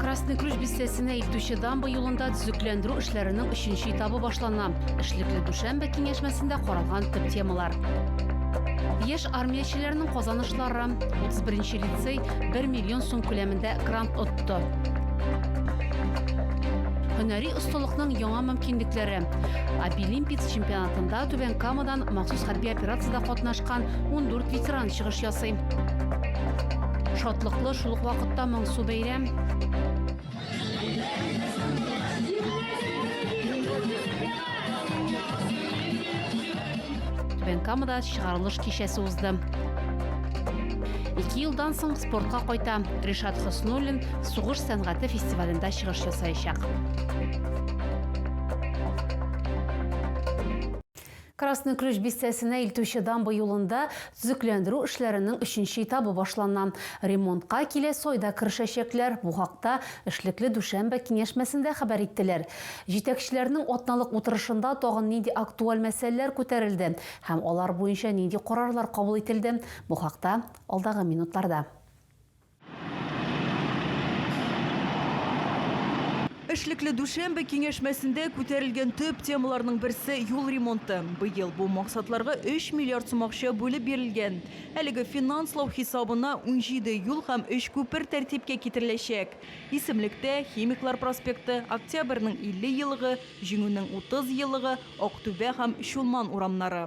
Красный Ключ бистәсенә илтүче дамба юлында төзекләндерү эшләренең өченче этабы башлана. Эшлекле дүшәмбе киңәшмәсендә каралган төп темалар. Яшь армиячеләрнең казанышлары. 31 лицей 1 миллион сум күләмендә грант отты. Һөнәри осталыкның яңа мөмкинлекләре. Абилимпиц чемпионатында Түбән Камада Татарстан махсус хәрби операциядә катнашкан 14 ветеран чыгыш ясый. Шатлыклы шул ук вакытта моңсу бәйрәм. Бенкамада чыгарылыш кичәсе узды. Ике елдан соң спортка кайта Ришат Хоснуллин сугыш сәнгате фестивалендә чыгыш ясаячак. Красный Ключ бистәсенә илтүче дамба юлында төзекләндерү эшләренең өченче этабы башлана. Ремонтка киләсе айда керешәчәкләр, бу хакта эшлекле дүшәмбе киңәшмәсендә хәбәр иттеләр. Җитәкчеләрнең атналык утырышында тагын нинди актуаль мәсьәләләр күтәрелде һәм алар буенча нинди карарлар кабул ителде, бу хакта алдагы минутларда. Эшлекле дүшәмбе киңәшмәсендә күтәрелгән төп темаларның берсе юл ремонты. Быел бу максатларга 3 миллиард сум акча бүлеп бирелгән. Әлеге финанслау хисабына 17 юл һәм 3 күпер тәртипкә китереләчәк. Исемлектә, Химиклар проспекты, Октябрьнең 50 елыгы, Җиңүнең 30 елыгы, Актүбә һәм Чулман урамнары.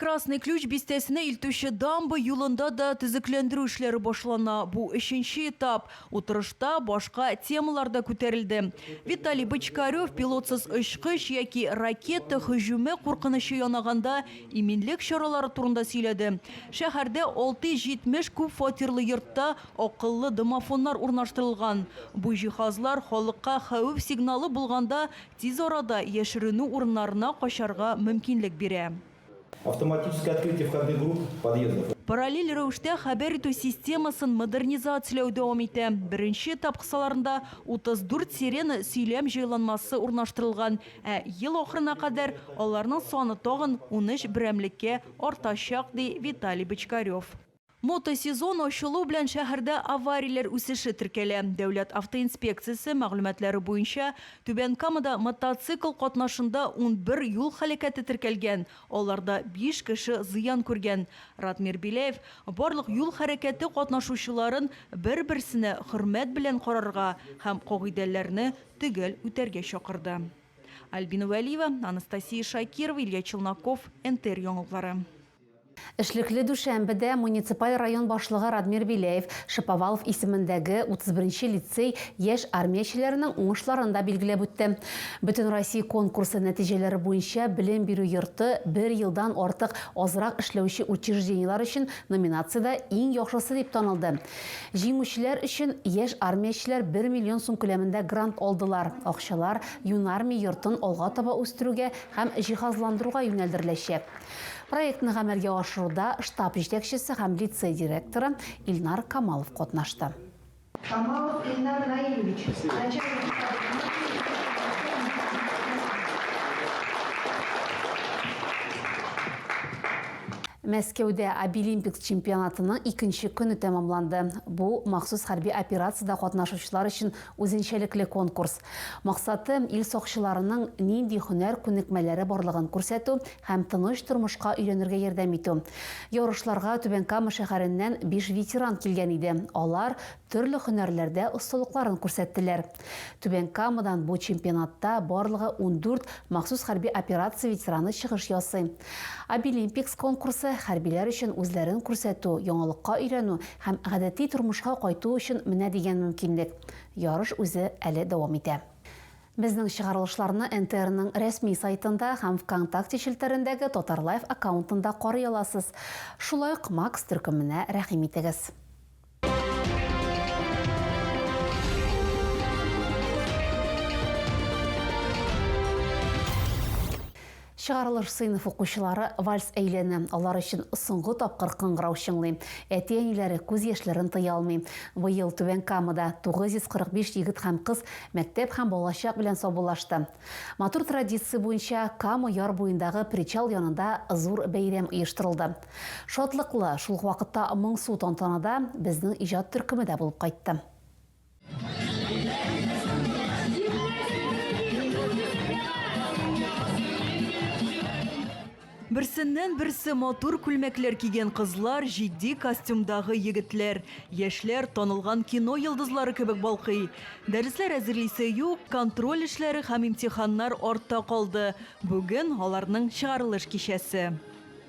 Красный Ключ бистәсенә илтүче дамба юлында да төзекләндерү эшләре башлана. Бу, өченче этап. Утырышта башка темалар да күтәрелде. Виталий Бочкарев пилотсыз очкыч яки ракета һөҗүме куркынычы янаганда иминлек чаралары турында сөйләде. Шәһәрдә 670 күп фатирлы йортта акыллы домофоннар урнаштырылган. Бу җиһазлар халыкка хәвеф сигналы булганда Тиз арада яшеренү урыннарына качарга мөмкинлек бирә. Автоматическое открытие входных групп подъездов. Параллель рәвештә хәбәр итү системасын модернизацияләү дәвам итә. Беренче этап кысаларында 34 сирена сөйләм җайланмасы урнаштырылган, ә ел ахырына кадәр аларның саны тагын унөч берәмлеккә артачак, ди Виталий Бочкарев. Мотосезон ачылу белән шәһәрдә аварияләр үсеше теркәлә. Дәүләт автоинспекциясе мәгълүматлары буенча, Түбән Камада мотоцикл катнашында унбер юл һәлакәте теркәлгән, аларда биш кеше зыян күргән. Радмир Беляев барлык юл хәрәкәте катнашучыларын бер-берсенә хөрмәт белән карарга һәм кагыйдәләрне төгәл үтәргә чакырды. Альбина Вәлиева, Анастасия Шакирова, Илья Челноков, НТР яңалыклары. Эшлекле дүшәмбедә муниципаль район башлыгы Радмир Беляев Шаповалов исемендәге 31 нче лицей яшь армиячеләренең уңышларын да билгеләп үтте. Бөтенроссия конкурсы нәтиҗәләре буенча белем бирү йорты бер елдан артык азрак эшләүче учреждениеләр өчен номинациядә иң яхшысы дип танылды. Җиңүчеләр өчен яшь армиячеләр бер миллион сум күләмендә грант алдылар, акчалар Юнармия йортын алга таба үстерүгә һәм җиһазландыруга юнәлдереләчәк. Проектны гамәлгә ашыруда штаб җитәкчесе һәм лицей директоры Илнар Камалов катнашты. Камалов Илнар Наилевич, начальник штабы Мәскәүдә Обилимпикс чемпионатының икенче көне тәмамланды. Бу, махсус хәрби операциядә катнашучылар өчен үзенчәлекле конкурс. Максатым, ил сакчыларының нинди һөнәр күнекмәләре барлыгын күрсәтү һәм тыныч тормышка өйрәнергә ярдәм итү. Ярышларга Түбән Кама шәһәреннән биш ветеран килгән иде, алар төрле һөнәрләрдә осталыкларын күрсәттеләр. Түбән Камадан бу чемпионатта барлыгы ундүрт махсус хәрби операция ветераны чыгыш ясый. Обилимпикс конкурсы, хәрбиләр өчен үзләрен күрсәтү, яңалыкка өйрәнү һәм гадәти тормышка кайту өчен менә дигән мөмкинлек. Ярыш үзе әле дәвам итә. Безнең чыгарылышларны НТРның рәсми сайтында һәм ВКонтакте челтәрендәге Татарлайв аккаунтында карый аласыз. Шулай ук Макс төркеменә рәхим итегез. Чыгарылыш сыйныф укучылары вальс әйләнә, алар өчен соңгы тапкыр кыңгырау чыңлый. Әти-әниләре күз яшьләрен тыя алмый. Быел Түбән Камада 945 егет һәм кыз мәктәп һәм балачак белән саубуллашты. Матур традиция буенча Кама яр буендагы причал янында зур бәйрәм оештырылды. Шатлыклы, шул ук вакытта моңсу тантанада безнең иҗат төркеме дә булып кайтты. Берсеннән берсе матур күлмәкләр кигән кызлар, җитди костюмдагы егетләр, яшьләр танылган кино йолдызлары кебек балкый. Дәресләр әзерлисе юк, контроль эшләре һәм имтиханнар артта калды. Бүген аларның чыгарылыш кичәсе.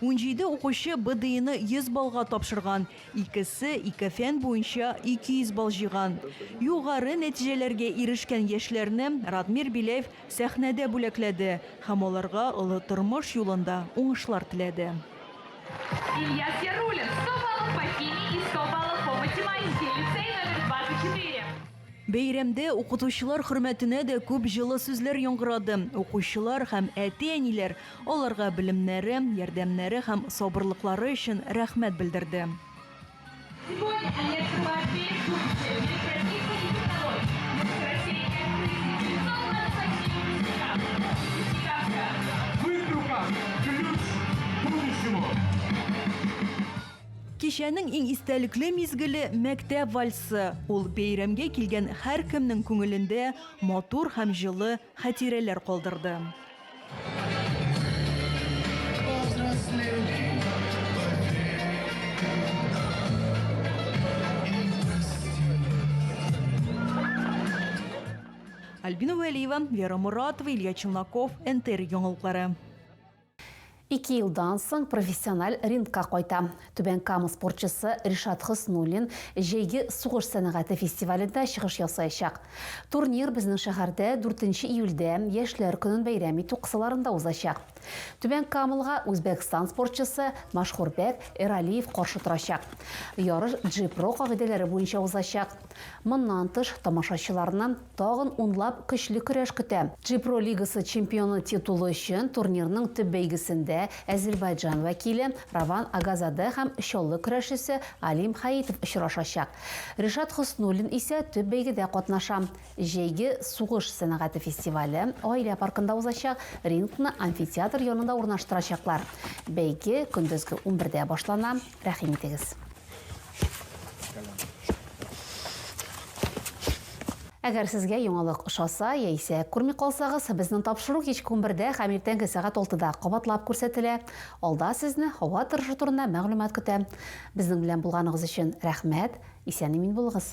Унҗиде укучы БДИны 100 баллга тапшырган, икесе, ике фән буенча, 200 балл җыйган. Югары нәтиҗәләргә ирешкән яшьләрне Радмир Беляев сәхнәдә бүләкләде һәм аларга олы тормыш юлында уңышлар теләде. Ильяс Яруллин, 100 баллы по химии и 100 баллы по математике, лицей номер 24. Бәйрәмдә укытучылар хөрмәтенә дә күп җылы сүзләр яңгырады. Укучылар һәм әти-әниләр аларга белемнәре, ярдәмнәре һәм сабырлыклары өчен рәхмәт белдерде. Кичәнең иң истәлекле мизгеле, мәктәп вальсы. Ул бәйрәмгә килгән һәркемнең күңелендә матур һәм җылы хәтирәләр калдырды. Альбина Вәлиева, Вера Моратова, Илья Челноков, НТР яңалыклары. Ике елдан соң профессиональ рингка кайта. Түбән Кама спортчысы Ришат Хөснуллин җәйге сугыш сәнәгате фестивалендә чыгыш ясаячак. Турнир безнең шәһәрдә дүртенче июльдә, Яшьләр көнен бәйрәм итү кысаларында узачак. Түбән Камалга Үзбәкстан спортчысы Машхурбек Эралиев каршы торачак. Ярыш Джи-Про кагыйдәләре буенча узачак. Моннан тыш, тамашачыларны тагын унлап көчле көрәш көтә. Джипро лигасы чемпионы титулы өчен турнирның төп бәйгесендә Әзербайҗан вәкиле Раван Агазаде һәм чаллы көрәшчесе Алим Хаитов очрашачак. Ришат Хөснуллин исә төп бәйгедә катнаша. Җәйге сугыш сәнәгате фестивале Гаилә паркында узачак, рингны амфитеатр янында урнаштырачаклар. Бәйге көндезге унбердә башлана, рәхим итегез! Әгәр сезгә яңалык ошаса яисә күрми калсагыз, безнең тапшыру кичке унбердә һәм иртәнге сәгать алтыда кабатлап күрсәтелә. Алда сезне һава торышы турында мәгълүмат көтә. Безнең белән булганыгыз өчен рәхмәт! Исән-имин булыгыз!